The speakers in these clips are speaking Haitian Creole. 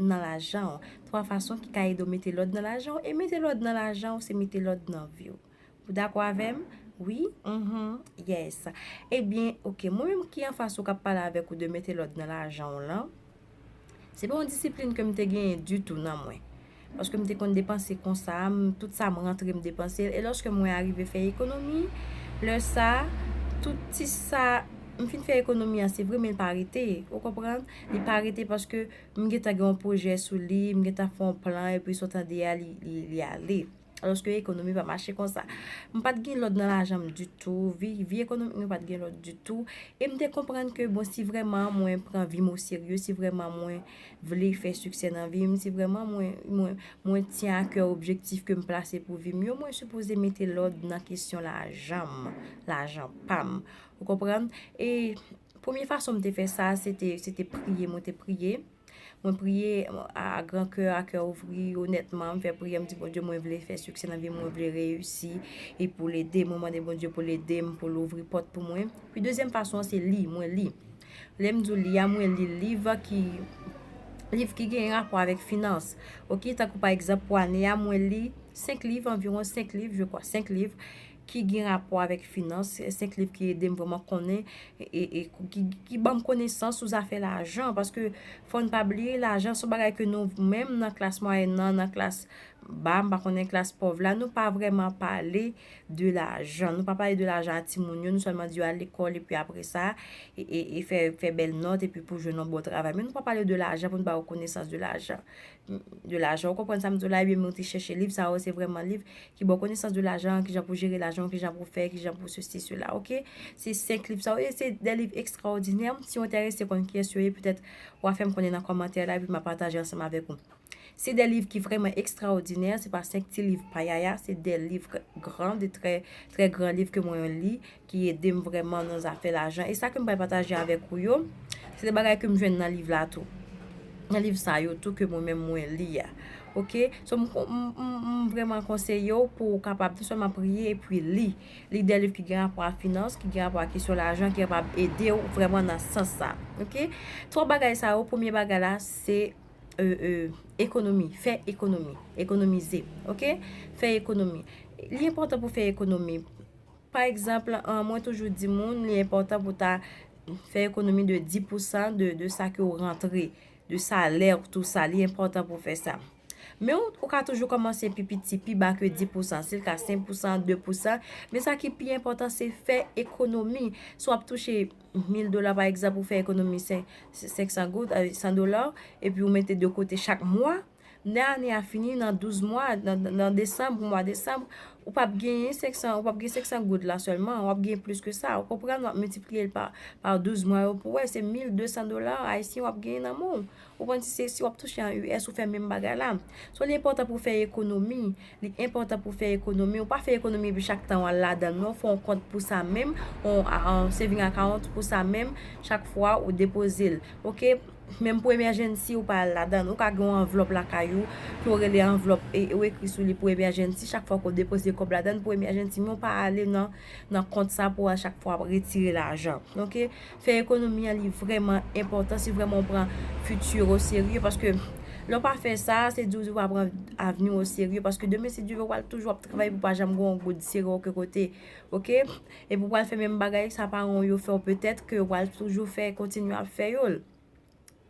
nan lajan w. 3 fason ki ka ede w mete lòd nan lajan w e mete lòd nan lajan w se mete lòd nan vi w. Ou dakò avè m? Wi? Uhmm Yes! Ebyen ok, mwen menm ki anfas ou k ap pale avèk ou de mete lòd nan lajan w lan, se pa yon disiplin ke m te genyen ditou nan mwen. Paske m te konn depanse konsa, tout sa m rantre m depanse l e lòske mwen arive fè ekonomi, lè sa, tout ti sa, m fin fè ekonomi an se vre men l pa rete, ou konprann? Li pa rete paske m gentan gen yon pwojè sou li, m gentan fè yon plan epi sa w tande a li ale. Alòske ekonomi pa mache konsa. M pa t gen lòd nan lajan m ditou, vi ekonomik mwen pa t gen lòd ditou. E m te konprann ke bon si vrèman mwen pran vi m o serye, si vrèman mwen vle fè siksè nan vi m, si vrèman mwen tyen a kè objektif ke m plase pou vi m yo, mwen sipoze mete lòd nan kesyon lajan m, lajan pa m. Ou konprann? E. Premye fason m te fè sa, se te, se te priye, mwen te priye. Mwen priye a gran kè, a kè ouvri, onètman, m fè priyè, m di Bondye mwen vle fè siksè nan vi m, mwen vle reyisi, e pou l ede m, mwen mande Bondye pou l ede m, pou l ouvri pòt pou mwen. Pi dezyèm fason an se li, mwen li. Lè m di w li a, mwen li liv ki, liv ki gen rapò avèk finans. Ok, tankou pa egzanp pou ane a, mwen li senk liv, anviwon senk liv, je kwa, senk liv. ki gen rapò avèk finans, se 5 liv ki ede m vreman konnen e ki ban m konesans sou zafè lajan, paske fò n pa bliye lajan se yon bagay ke nou menm nan klas mwayèn nan, nan klas ba, m pa konnen klas pòv la, nou pa vreman pale de lajan, nou pa pale de lajan a ti moun yo, nou sèlman di yo al lekòl e pi apre sa, e fè bèl nòt e pi pou jwenn yon bon travay, men nou pa pale de lajan pou n ba yo konesans de lajan. de lajan. Ou konprann sa m di w la ui, men ou te chèche liv sa yo, se vrèman liv ki ba w konesans de lajan, kijan pou jere lajan w, kijan pou fè, kijan pou sesi sela ok. Se 5 liv sa yo e se de liv ekstraòdinè. Si w enterese konn kiyès yo ye, petèt wa fè m konnen nan kòmantè la epi m a pataje ansanm avèk ou. Se de liv ki vrèman ekstraòdinè, se pa 5 ti liv payaya, se de liv gran, de trè gran liv ke mwen li. ki ede m vrèman nan zafè lajan. E sa ke m pral pataje avèk ou yo, se de bagay ke m jwenn nan liv la tou. Nan liv sa yo tou ke mwen menm mwen li a. Ok? So m vrèman konseye ou pou ou kapab non sèlman priye epi li. Li de liv ki gen rapò a finans, ki gen rapò a kesyon lajan, ki kapab ede ou vrèman nan sans sa. Ok? Twa bagay sa yo, premye bagay la se ekonomi. Fè ekonomi. Ekonomize. Ok? Fè ekonomi. Li enpòtan pou fè ekonomi. Pa egzanp, mwen toujou di moun li enpòtan pou ta fè ekonomi de 10 pou san de sa ke ou rantre, de salè ou tout sa, li enpòtan pou fè sa. Men ou ka toujou kòmanse pi piti, pi ba ke 10 pou san, si l ka 5 pou san, 2 pou san, men sa ki pi enpòtan se fè ekonomi. Si w ap touche 1000 dola pa egzanp ou fè ekonomi 500 goud, 100 dola, epi ou mete de kote chak mwa. Lè ane a fini nan 12 mwa, nan desanm, pou mwa desanm, ou p ap gen 500 goud la sèlman, w ap gen plis ke sa. Ou konprann? W ap miltipliye l pa 12 mwa yo pou wè, se 1200 dola ayisyen w ap genyen nan men w. Ou konprann? Si w ap touche an US, ou fè menm bagay la. Sa w li enpòtan pou w fè ekonomi. Li enpòtan pou w fè ekonomi, ou pa fè ekonomi epi chak tan w al ladan l non, fè yon kont pou sa menm, yon saving account pou sa menm, chak fwa ou depoze l ok, menm pou emèjènsi ou pa al ladan l, ou ka gen yon anvlòp lakay ou ke w rele anvlòp ou ekri sou li pou emèjènsi, chak fwa ke w depoze kòb ladan l pou emèjènsi men w pa ale nan kont sa pou w a chak fwa retire lajan ok. Fè ekonomi an li vrèman enpòtan si vrèman ou pran fiti ou oserye paske lè ou pa fè sa se di ou di ou pa pran avni ou oserye paske demen si Dye vle ou pral toujou ap travay pou pa janm gen yon goud sere oken kote ok epi ou pral fè menm bagay sa paran ou yo fè ou petèt ke ou pral toujou fè kontinye ap fè yo l.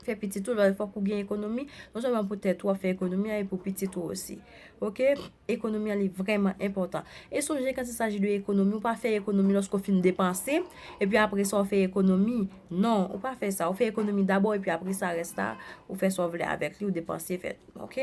fè pitit ou, lè fòk ou gen ekonomi, non sèlman pou tèt ou wap fè ekonomi a e pou pitit ou osi. Ok, ekonomi an li vrèman enpòtan. E sonje kan se saji de ekonomi, ou pa fè ekonomi lòske ou fin depanse, epi apre sa ou fè ekonomi, non, ou pa fè sa, ou fè ekonomi dabò epi apre sa rès la, ou fè sa ou vle avèk li, ou depanse fè, ok.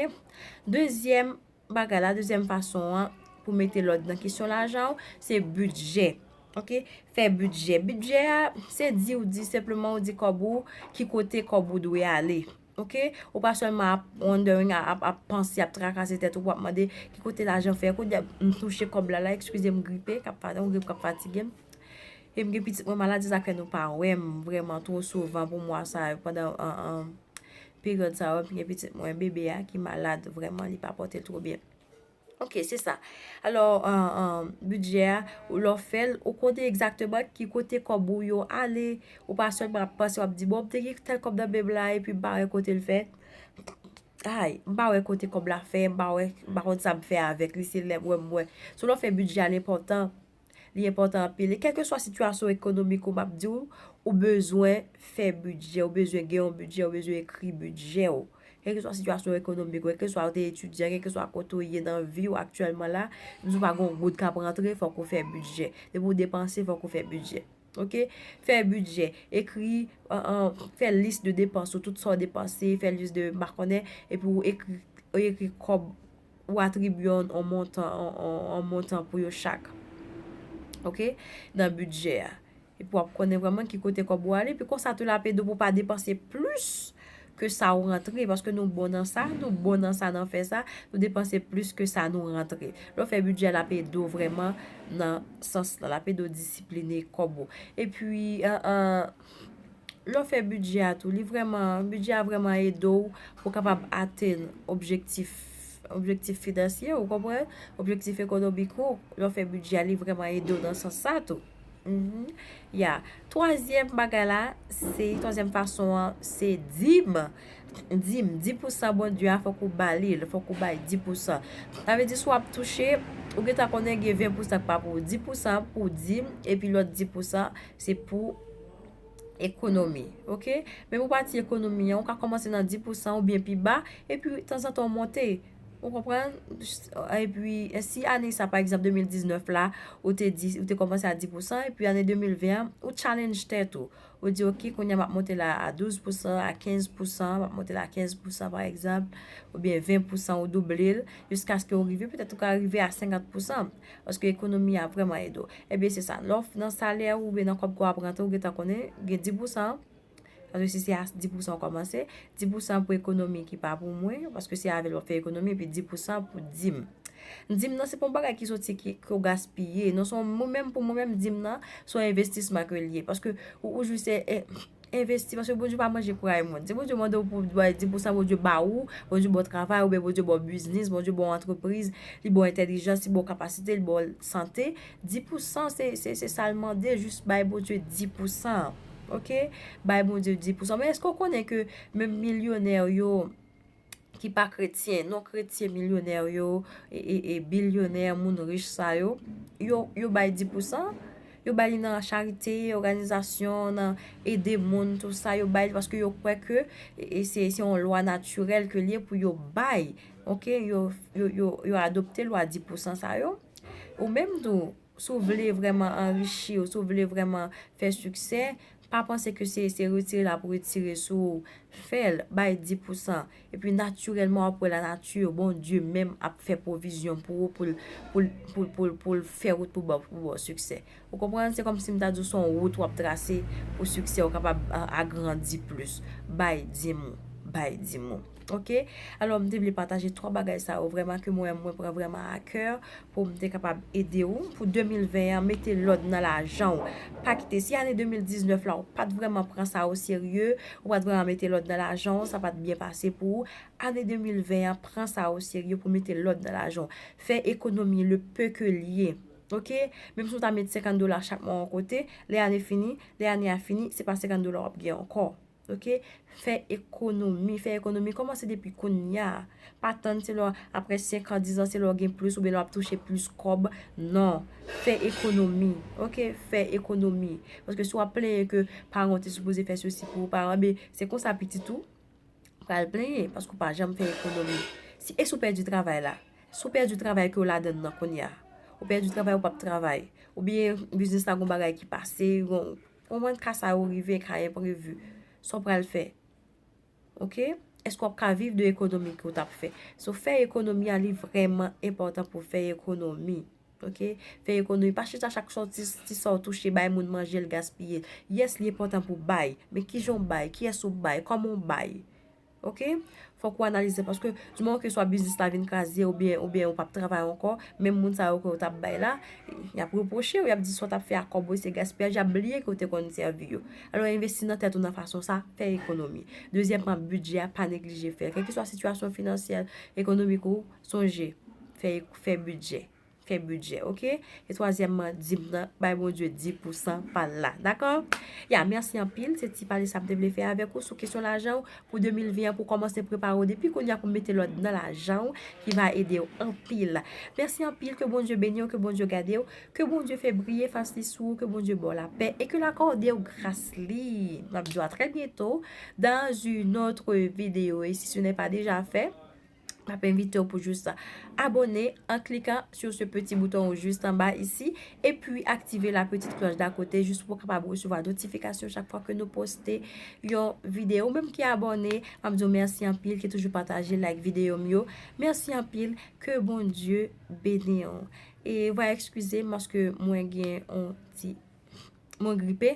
Dezyèm. bagay la, dezyèm fason an pou mete lòd nan kesyon lajan ou, se bidjè. Ok, fè bidjè. Bidjè a, se di ou di, senpleman ou di kòb ou, ki kote kòb ou dwe ale. Ok, ou pa sèlman ap wondering, ap panse, ap trakase tèt ou pou ap mande, ki kote lajan fè kou, m touche kòb la la, ekskize m gripe, kap fane, m gripe kap fatige m. E m gen pitit mwen malad, se sa k fè nou pa wè m vreman twò souvan pou mwa sa yo, pandan an an. Period sa wap gen pitit mwen bebe a ki malad vreman li pa pote l two byen. Ok se sa. Alo budget a ou lo fel ou konnen exactement ki kote kob ou yo ale ou pa selman ap panse wap di bon m te gen tel kob nan menm la epi m pa we kote l fe. Hay m pa we kote kob la fe m pa we m pa konn sa m fe avek li se lem we m we. Sou lo fe budget a l enpotan. Li enpòtan anpil. E kèlkeswa sitiyasyon ekonomik ou, m ap di w, ou bezwen fè bidjè, ou bezwen gen yon bidjè, ou bezwen ekri bidjè w. Kèlkeswa sitiyasyon ekonomik ou, kèlkeswa ou te etidyan, kèlkeswa kote ou ye nan vi w aktyèlman la, menm si w pa gen yon goud k ap rantre, fòk ou fè bidjè. Depi ou depanse, fòk ou fè bidjè. Ok? Fè bidjè. Ekri, fè lis de depans ou, tout sa ou depanse, fè lis de, m pa konnen, epi ou ekri, ou ekri kòb. ou atribye yon montan yon montan pou yo chak ok nan bidjè a epi w ap konnen vreman ki kote kòb ou ale epi konsa tou l ap ede w pou w pa depanse plis ke sa ou rantre paske nou bon nan sa nou bon nan sa nan fè sa nou depanse plis ke sa nou rantre lè w fè bidjè l ap ede w vreman nan sans lan l ap ede w disipline kòb ou epi Lè w fè bidjè a tou, li vrèman, bidjè a vrèman ede w pou w kapab atenn objektif, objektif finansye ou, konprann? Objektif ekonomik ou, lè w fè bidjè a li vrèman ede w nan sans sa tou. Ya, twazyèm bagay la, se, twazyèm fason an, se dim. Dim, di pou san Bondye a fòk ou ba li l, fòk ou bay di pou san. Sa vle di si w ap touche, ou gentan konnen gen ven pou san k pa pou ou. Di pou san pou dim, epi lòt di pou san Se pou ekonomi. Ok? Men pou pati ekonomi an, ou ka kòmanse nan 10 pousan ou byen pi ba, epi tanzantan ou monte. Ou konprann? Epi, si ane sa, pa egzanp, 2019 la, ou te di, ou te kòmanse a 10 pousan, epi ane 2020 an, ou challenge tèt ou. Ou di, ok, kounye a m ap monte la a 12 pousan, a 15 pousan, m ap monte la a 15 pousan, pa egzanp, ou byen 20 pousan, ou double l, jiskaske ou rive, petèt ou ka rive a 50 pousan. Paske ekonomi a vrèman ede w. Ebyen se sa. Lè w nan salè ou oubyen nan kòb ke w ap rantre ou gentan konnen gen 10 pou san. Paske si se a 10 pou san w kòmanse. 10 pou san pou ekonomi ki pa pou mwen. Paske se avè l wap fè ekonomi. Epi 10 pou san pou dim. Dim nan se pa yon bagay ki soti ke w gaspiye. Non se yon mwen menm pou mwen menm dim nan se yon envestisman ke l ye. Paske ou jwi se. Envesti, paske Bondye pa manje pray moun. Si Bondye mande w pou ba l 10 pousan, Bondye ba ou, Bondye ba w travay, oubyen Bondye ba w biznis, Bondye ba w antrepriz, li ba w entèlijans, li ba w kapasite, li ba w sante, 10 pousan se, se, se sa l mande, jis bay Bondye 10 pousan an. Ok? Bay Bondye 10 pousan. Men èske w konnen ke menm milyonè yo, ki pa kretyen, non kretyen milyonè yo, e bilyonè, moun rich sa yo, yo bay di pou san, yo bay li nan charite, oganizasyon, nan ede moun, tout sa yo bay, paske yo kwè ke, e se yon lwa natirèl ke liye pou yo bay, ok, yo adopte lwa di pou san sa yo, ou menm tou. Si w vle vrèman anrichi w, si w vle vrèman fè siksè, pa panse ke se retire l ap retire sou ou. Fè l, bay di pousan. Epi natirèlman w ap wè lanati, Bondye menm ap fè pwovizyon pou ou pou l fè wout pou w ba w siksè. Ou konprann? Se kòmsi m ta di w se yon wout w ap trase pou siksè w kapab agrandi plis. Bay di m ou. Bay di m ou. Ok alò m te vle pataje 3 bagay sa yo vrèman ke mwen mwen pran vrèman a kè pou m te kapab ede ou pou 2020 an mete lòd nan lajan ou pa kite si ane 2019 la ou pat vrèman pran sa o serye ou pat vrèman mete lòd nan lajan ou sa pat byen pase pou ou ane 2020 an pran sa o serye pou mete lòd nan lajan ou fè ekonomi le pe ke l ye ok menm si ou ta met 50 dola chak mwa yon kote lè ane fini lè ane a fini se pa 50 dola w ap gen ankò. ok fè ekonomi fè ekonomi kòmanse depi kounya pa tann se lè aprè 5 an 10 an se lè w gen plis oubyen lè w ap touche plis kòb nan fè ekonomi ok fè ekonomi paske si w ap plenyen ke paran w te sipoze fè sesi pou ou paran w ebyen se konsa pitit ou pral plenyen paske ou pa janm fè ekonomi si e si w pèdi travay la si w pèdi travay ke w ladann nan kounya ou pèdi travay ou p ap travay oubyen biznis la gen yon bagay ki pase yon Ou konprann ka sa yo rive, ka enprevu. Sa w pral fè? Ok? Eske w ap ka viv de ekonomi ke w t ap fè? So fè ekonomi a li vrèman enpòtan pou w fè ekonomi. Ok? Fè ekonomi. Pa chita chak sa w ti ti sa w touche bay moun manje l gaspiye l. Yes li enpòtan pou w bay. Men kijan w bay? Kiyès ou bay? Kòman w bay? Ok fok ou analize paske du moman ke swa biznis la vin kraze ou byen ou byen ou pap travay ankò menm moun sa yo ke ou tap bay la yap repwoche ou yap di sa ou tap fè ak kòb ou se gaspiyaj yap bliye ke ou te konn sèvi yo alò envesti nan tèt ou nan fason sa fè ekonomi dezyèman bidjè a pa neglije fèl kèlkeswa sitiyasyon finansyèl ekonomik ou sonje fè fè bidjè fè budget ok e twazyèmman dim nan bay Bondye di pou san pal la dakò ya mèsi anpil se ti pale sa mte vle fè avèk ou sou kesyon lajanw pou 2020 pou kòmanse prepare ou depi konya pou mete lòd nan lajanw ki va edew anpil mèsi anpil ke Bondye beniw ke Bondye gadew ke Bondye fè briye fas li sou ou ke Bondye baw la pè e ke la kòdew gras li map diw a trè byento dans un autre video e si ce n'est pas déjà fait M ap envite w pou jis abone an klikan sou se peti bouton ou jis anba isi e pi aktive la peti klòch da kote jis pou kapab resevwa notifikasyon chak fwa ke nou poste yon videyo. Ou menm ki abone, m ap di w mèsi anpil ki toujou pataje like videyo m yo. Mèsi anpil, ke bon Dye beni w. E vwa ekskize m paske mwen gen yon ti mwen gripe.